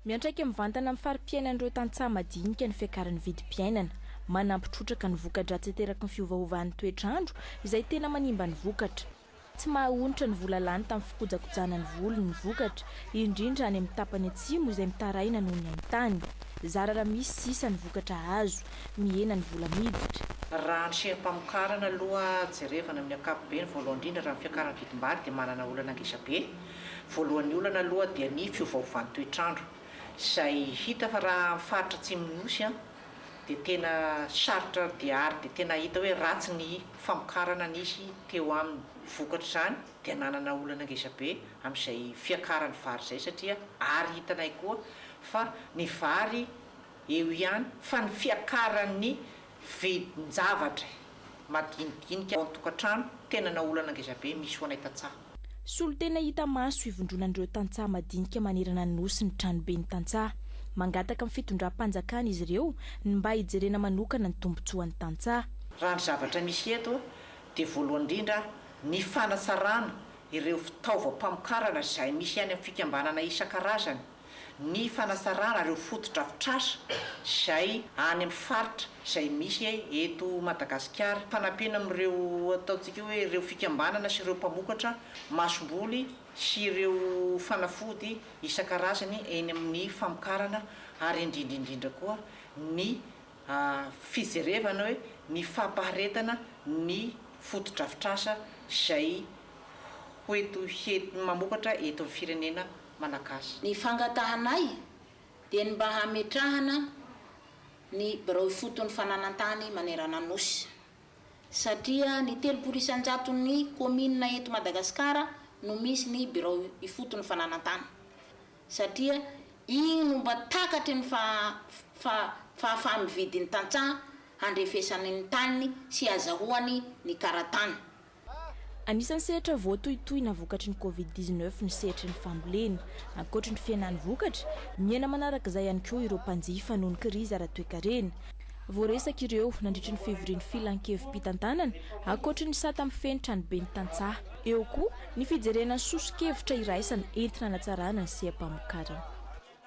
Miantraika mivantana amin'ny fari-piainan'ireo tantsaha madinika ny fiakaran'ny vidim-piainana. Manampy trotraka ny voka-dratsy ateraky ny fiovaovan'ny toetr'andro, izay tena manimba ny vokatra. Tsy maha-onitra ny vola lany tamin'ny fikojakojana ny voly ny vokatra, indrindra any amin'ny tapany atsimo izay mitaraina noho ny haintany. Zara raha misy sisa ny vokatra azo. Mihena ny vola miditra. Raha ny seha-pamokarana aloha jerevana amin'ny ankapobeny, voalohany indrindra raha ny fiakaran'ny vidim-bary dia manana olana ngezabe. Voalohan'ny olana aloha dia ny fiovaovan'ny toetr'andro izay hita fa raha amin'ny faritra atsimon'ny Nosy dia tena sarotra dia ary dia tena hita hoe ratsy ny famokarana nisy teo aminy. Vokatr'izany dia nanana olana ngezabe amin'izay fiakaran'ny vary izay satria ary hitanay koa fa ny vary eo ihany fa ny fiakaran'ny Vidin-javatra madinidinika ao an-tokantrano tena na olana ngezabe misy ho anay tantsaha. Solontena hita maso ivondronan'ireo tantsaha madinika manerana ny Nosy ny tranoben'ny tantsaha. Mangataka amin'ny fitondram-panjakana izy ireo ny mba hijerena manokana ny tombontsoan'ny tantsaha. Raha ny zavatra misy eto dia voalohany indrindra ny fanatsarana ireo fitaovam-pamokarana izay misy any amin'ny fikambanana isan-karazany. ny fanasarana ireo fotodrafitrasa izay any amin'ny faritra izay misy eto Madagasikara, fanampiana amin'ireo ataontsika hoe ireo fikambanana sy ireo mpamokatra masomboly sy ireo fanafody isan-karazany eny amin'ny famokarana ary indrindra indrindra koa ny fijerevana hoe ny fampaharetana ny fotodrafitrasa izay ho eto mamokatra eto amin'ny firenena Malagasy. Ny fangatahanay dia ny mba hametrahana ny birao ifoton'ny fananantany manerana Nosy satria ny telopolo isan-jaton'ny kaominina eto Madagasikara no misy ny birao ifoton'ny fananantany satria iny no mba takatry ny fahafaha-mividin'ny tantsaha handrefesany ny taniny sy hazahoany ny karatany. Anisan'ny sehatra voatohitohina vokatry ny Covid dix neuf ny sehatry ny fambolena. Ankoatry ny fihenan'ny vokatra, miaina manaraka izay ihany koa ireo mpanjifa noho ny krizy ara-toekarena. Voaresaka ireo nandritry ny fivorian'ny Filan-kevi-pitantanana ankoatry ny sata mifehy ny tranoben'ny tantsaha. Eo koa ny fijerena ny soso-kevitra iraisana entina hanatsarana ny seha-pamokarana.